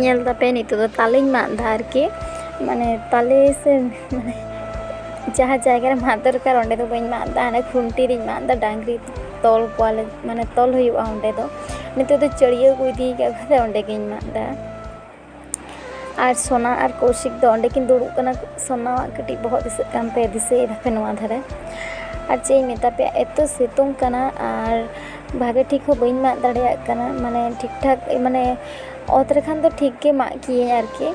ᱧᱮᱞ ᱫᱟᱯᱮ ᱱᱤᱛᱚᱜ ᱫᱚ ᱛᱟᱞᱮᱧ ᱢᱟᱜ ᱮᱫᱟ ᱟᱨᱠᱤ ᱢᱟᱱᱮ ᱛᱟᱞᱮ ᱥᱮ ᱢᱟᱱᱮ ᱡᱟᱦᱟᱸ ᱡᱟᱭᱜᱟ ᱨᱮ ᱢᱟᱜ ᱫᱚᱨᱠᱟᱨ ᱚᱸᱰᱮ ᱫᱚ ᱵᱟᱹᱧ ᱢᱟᱜ ᱮᱫᱟ ᱦᱟᱱᱮ ᱠᱷᱩᱱᱴᱤ ᱨᱤᱧ ᱢᱟᱜ ᱮᱫᱟ ᱰᱟᱝᱨᱤ ᱛᱚᱞ ᱠᱚᱣᱟᱞᱮ ᱢᱟᱱᱮ ᱛᱚᱞ ᱦᱩᱭᱩᱜᱼᱟ ᱚᱸᱰᱮ ᱫᱚ ᱱᱤᱛᱚᱜ ᱫᱚ ᱪᱟᱹᱲᱭᱟᱹ ᱠᱚ ᱤᱫᱤ ᱠᱟᱜ ᱠᱷᱟᱱ ᱫᱚ ᱚᱸᱰᱮ ᱜᱤᱧ ᱢᱟᱜ ᱮᱫᱟ ᱟᱨ ᱥᱳᱱᱟ ᱟᱨ ᱠᱳᱣᱥᱤᱠ ᱫᱚ ᱚᱸᱰᱮ ᱠᱤᱱ ᱫᱩᱲᱩᱵ ᱠᱟᱱᱟ ᱥᱳᱱᱟᱣᱟᱜ ᱠᱟᱹᱴᱤᱡ ᱵᱚᱦᱚᱜ ᱫᱤᱥᱟᱹᱜ ᱠᱟᱱ ᱛᱟᱭᱟ ᱫᱤᱥᱟᱹᱭ ᱫᱟᱯᱮ ᱱᱚᱣᱟ ᱫᱷᱟᱨᱮ ᱟᱨ ᱪᱮᱫ ᱤᱧ ᱢᱮᱛᱟ ᱯᱮᱭᱟ ᱮᱛᱚ ᱥᱤᱛᱩᱝ ᱠᱟᱱᱟ ᱟᱨ ᱵᱷᱟᱜᱮ ᱴᱷᱤᱠ ᱦᱚᱸ ᱵᱟᱹᱧ ᱢᱟᱜ ᱫᱟᱲᱮᱭᱟᱜ ᱠᱟᱱᱟ ᱢᱟᱱᱮ ᱴᱷᱤᱠ ᱴᱷᱟᱠ ᱢᱟᱱᱮ ᱚᱛ ᱨᱮᱠᱷᱟᱱ ᱫᱚ ᱴᱷᱤᱠ ᱜᱮ ᱢᱟᱜ ᱠᱮᱭᱟᱹᱧ ᱟᱨᱠᱤ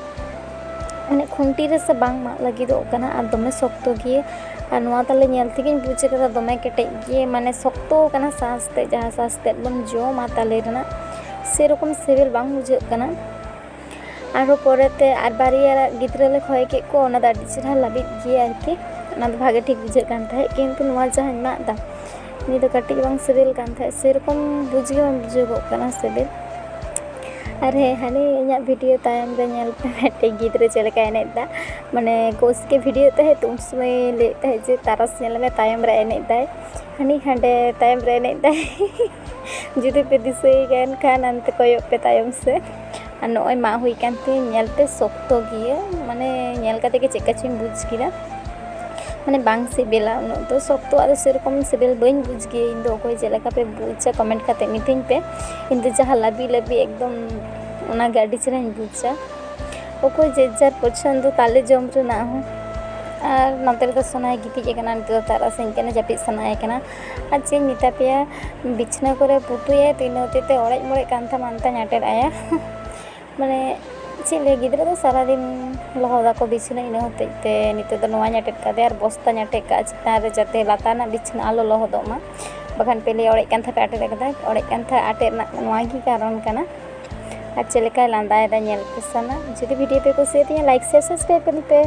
ᱢᱟᱱᱮ ᱠᱷᱩᱱᱴᱤ ᱨᱮᱥᱮ ᱵᱟᱝ ᱢᱟᱜ ᱞᱟᱹᱜᱤᱫᱚᱜ ᱠᱟᱱᱟ ᱟᱨ ᱫᱚᱢᱮ ᱥᱚᱠᱛᱚ ᱜᱮᱭᱟ ᱟᱨ ᱱᱚᱣᱟ ᱛᱟᱞᱮ ᱧᱮᱞ ᱛᱮᱜᱮᱧ ᱵᱩᱡᱽ ᱠᱟᱫᱟ ᱫᱚᱢᱮ ᱠᱮᱴᱮᱡ ᱜᱮᱭᱟ ᱢᱟᱱᱮ ᱥᱚᱠᱛᱚ ᱠᱟᱱᱟ ᱥᱟᱥ ᱛᱮᱫ ᱡᱟᱦᱟᱸ ᱥᱟᱥ ᱛᱮᱫ ᱵᱚᱱ ᱡᱚᱢᱟ ᱛᱟᱞᱮ ᱨᱮᱱᱟᱜ ᱥᱮᱨᱚᱠᱚᱢ ᱥᱤᱵᱤᱞ ᱵᱟᱝ ᱵᱩᱡᱷᱟᱹᱜ ᱠᱟᱱᱟ ᱟᱨᱦᱚᱸ ᱯᱚᱨᱮᱛᱮ ᱟᱨ ᱵᱟᱨᱭᱟ ᱜᱤᱫᱽᱨᱟᱹ ᱞᱮ ᱠᱷᱚᱭ ᱠᱮᱫ ᱠᱚᱣᱟ ᱚᱱᱟ ᱫᱚ ᱟᱹᱰᱤ ᱪᱮᱦᱨᱟ ᱞᱟᱹᱵᱤᱫ ᱜᱮᱭᱟ ᱟᱨᱠᱤ ᱚᱱᱟ ᱫᱚ ᱵᱷᱟᱜᱮ ᱴᱷᱤᱠ ᱵᱩᱡᱷᱟᱹᱜ ᱠᱟᱱ ᱛᱟᱦᱮᱸᱫ ᱠᱤᱱᱛᱩ ᱱᱚᱣᱟ ᱡᱟᱦᱟᱸᱧ ᱢᱟᱜ ᱮᱫᱟ ᱱᱤᱭᱟᱹ ᱫᱚ ᱠᱟᱹᱴᱤᱡ ᱦᱚᱸ ᱵᱟᱝ ᱥᱤᱵᱤᱞ ᱠᱟᱱ ᱛᱟᱦᱮᱸᱫ ᱥᱮᱨᱚᱠᱚᱢ ᱵᱩᱡᱽ ᱜᱮ ᱵᱟᱝ ᱵᱩᱡᱷᱟᱹᱜᱚᱜ ᱠᱟᱱᱟ ᱥᱤᱵᱤᱞ ᱟᱨ ᱦᱮᱸ ᱦᱟᱱᱮ ᱤᱧᱟᱹᱜ ᱵᱷᱤᱰᱤᱭᱳ ᱛᱟᱭᱚᱢ ᱨᱮ ᱧᱮᱞ ᱯᱮ ᱢᱤᱫᱴᱮᱱ ᱜᱤᱫᱽᱨᱟᱹ ᱪᱮᱫ ᱞᱮᱠᱟᱭ ᱮᱱᱮᱡ ᱮᱫᱟ ᱢᱟᱱᱮ ᱠᱳᱪ ᱜᱮ ᱵᱷᱤᱰᱤᱭᱳ ᱮᱫ ᱛᱟᱦᱮᱸᱫ ᱛᱚ ᱩᱱ ᱥᱚᱢᱚᱭ ᱞᱟᱹᱭᱮᱫ ᱛᱟᱦᱮᱸᱫ ᱡᱮ ᱛᱟᱨᱟᱥ ᱧᱮᱞ ᱢᱮ ᱛᱟᱭᱚᱢ ᱨᱮ ᱮᱱᱮᱡ ᱮᱫᱟᱭ ᱦᱟᱹᱱᱤ ᱦᱟᱸᱰᱮ ᱛᱟᱭᱚᱢ ᱨᱮ ᱮᱱᱮᱡ ᱮᱫᱟᱭ ᱡᱩᱫᱤ ᱯᱮ ᱫᱤᱥᱟᱹᱭ ᱠᱟᱱ ᱠᱷᱟᱱ ᱚᱱᱛᱮ ᱠᱚᱭᱚᱜ ᱯᱮ ᱛᱟᱭᱚᱢ ᱥᱮ ᱟᱨ ᱱᱚᱜᱼᱚᱭ ᱢᱟᱜ ᱦᱩᱭ ᱠᱟᱱ ᱛᱮ ᱧᱮᱞ ᱛᱮ ᱥᱚᱠᱛᱚ ᱜᱮᱭᱟ ᱢᱟᱱᱮ ᱧᱮᱞ ᱠᱟᱛᱮ ᱜᱮ ᱪᱮᱫᱠᱟ ᱪᱚᱧ ᱵᱩᱡᱽ ᱠᱮᱫᱟ ᱢᱟᱱᱮ ᱵᱟᱝ ᱥᱤᱵᱤᱞᱟ ᱩᱱᱟᱹᱜ ᱫᱚ ᱥᱚᱠᱛᱚ ᱟᱜ ᱫᱚ ᱥᱮᱨᱚᱠᱚᱢ ᱥᱤᱵᱤᱞ ᱵᱟᱹᱧ ᱵᱩᱡᱽ ᱜᱮᱭᱟ ᱤᱧ ᱫᱚ ᱚᱠᱚᱭ ᱪᱮᱫ ᱞᱮᱠᱟ ᱯᱮ ᱵᱩᱡᱟ ᱠᱚᱢᱮᱱᱴ ᱠᱟᱛᱮ ᱢᱤᱛᱟᱹᱧ ᱯᱮ ᱤᱧ ᱫᱚ ᱡᱟᱦᱟᱸ ᱞᱟᱹᱵᱤᱫ ᱞᱟᱹᱵᱤᱫ ᱮᱠᱫᱚᱢ ᱚᱱᱟ ᱜᱮ ᱟᱹᱰᱤ ᱪᱮᱦᱨᱟᱧ ᱵᱩᱡᱟ ᱚᱠᱚᱭ ᱡᱮ ᱡᱟᱨ ᱯᱚᱪᱷᱚᱱᱫᱚ ᱛᱟᱞᱮ ᱡᱚᱢ ᱨᱮᱱᱟᱜ ᱦᱚᱸ ᱟᱨ ᱱᱚᱛᱮ ᱨᱮᱫᱚ ᱥᱚᱱᱟᱭ ᱜᱤᱛᱤᱡ ᱟᱠᱟᱱᱟ ᱱᱤᱛᱚᱜ ᱫᱚ ᱛᱟᱨᱟᱥᱤᱧ ᱠᱟᱱᱟ ᱡᱟᱹᱯᱤᱫ ᱥᱟᱱᱟᱭᱮ ᱠᱟᱱᱟ ᱟᱨ ᱪᱮᱫ ᱤᱧ ᱢᱮᱛᱟ ᱯᱮᱭᱟ ᱵᱤᱪᱷᱱᱟᱹ ᱠᱚᱨᱮ ᱯᱩᱴᱩᱭᱟᱭ ᱛᱚ ᱤᱱᱟᱹ ᱦᱚᱛᱮᱡ ᱛᱮ ᱚᱲᱮᱡ ᱢᱚᱲᱮᱡ ᱠᱟᱱ ᱛᱟᱢᱟ ᱚᱱᱟᱛᱮᱧ ᱟᱴᱮᱫ ᱟᱭᱟ ᱢᱟᱱᱮ ᱪᱮᱫ ᱞᱟᱹᱭ ᱜᱤᱫᱽᱨᱟᱹ ᱫᱚ ᱥᱟᱨᱟᱫᱤᱱ ᱞᱚᱦᱚᱫᱟᱠᱚ ᱵᱤᱪᱷᱱᱟᱹ ᱤᱱᱟᱹ ᱦᱚᱛᱮᱡ ᱛᱮ ᱱᱤᱛᱚᱜ ᱫᱚ ᱱᱚᱣᱟᱧ ᱟᱴᱮᱫ ᱠᱟᱫᱮᱭᱟ ᱟᱨ ᱵᱚᱥᱛᱟᱧ ᱟᱴᱮᱫ ᱠᱟᱜᱼᱟ ᱪᱮᱛᱟᱱ ᱨᱮ ᱡᱟᱛᱮ ᱞᱟᱛᱟᱨ ᱨᱮᱱᱟᱜ ᱵᱤᱪᱷᱱᱟᱹ ᱟᱞᱚ ᱞᱚᱦᱚᱫᱚᱜ ᱢᱟ ᱵᱟᱠᱷᱟᱱ ᱯᱮ ᱞᱟᱹᱭᱟ ᱚᱲᱮᱡ ᱠᱟᱱ ᱛᱟᱦᱮᱸ ᱯᱮ ᱟᱴᱮᱫ ᱠᱟᱫᱟ ᱚᱲᱮᱡ ᱠᱟᱱ ᱛᱟᱦᱮᱸ ᱟᱴᱮᱫ ᱨᱮᱱᱟᱜ ᱱᱚᱣᱟ ᱜᱮ ᱠᱟᱨᱚᱱ ᱠᱟᱱᱟ ᱟᱨ ᱪᱮᱫ ᱞᱮᱠᱟᱭ ᱞᱟᱸᱫᱟᱭᱮᱫᱟ ᱧᱮᱞ ᱯᱮᱥᱮ ᱱᱟᱜ ᱡᱩᱫᱤ ᱵᱷᱤᱰᱤᱭᱳ ᱯᱮ ᱠᱩᱥᱤᱭᱟᱛᱤᱧᱟ ᱞᱟᱭᱤᱠ ᱥᱮᱭᱟᱨ ᱥᱟᱵᱥᱠᱨᱟᱭᱤᱵᱽ ᱠᱟᱹᱛᱤᱧ ᱯᱮ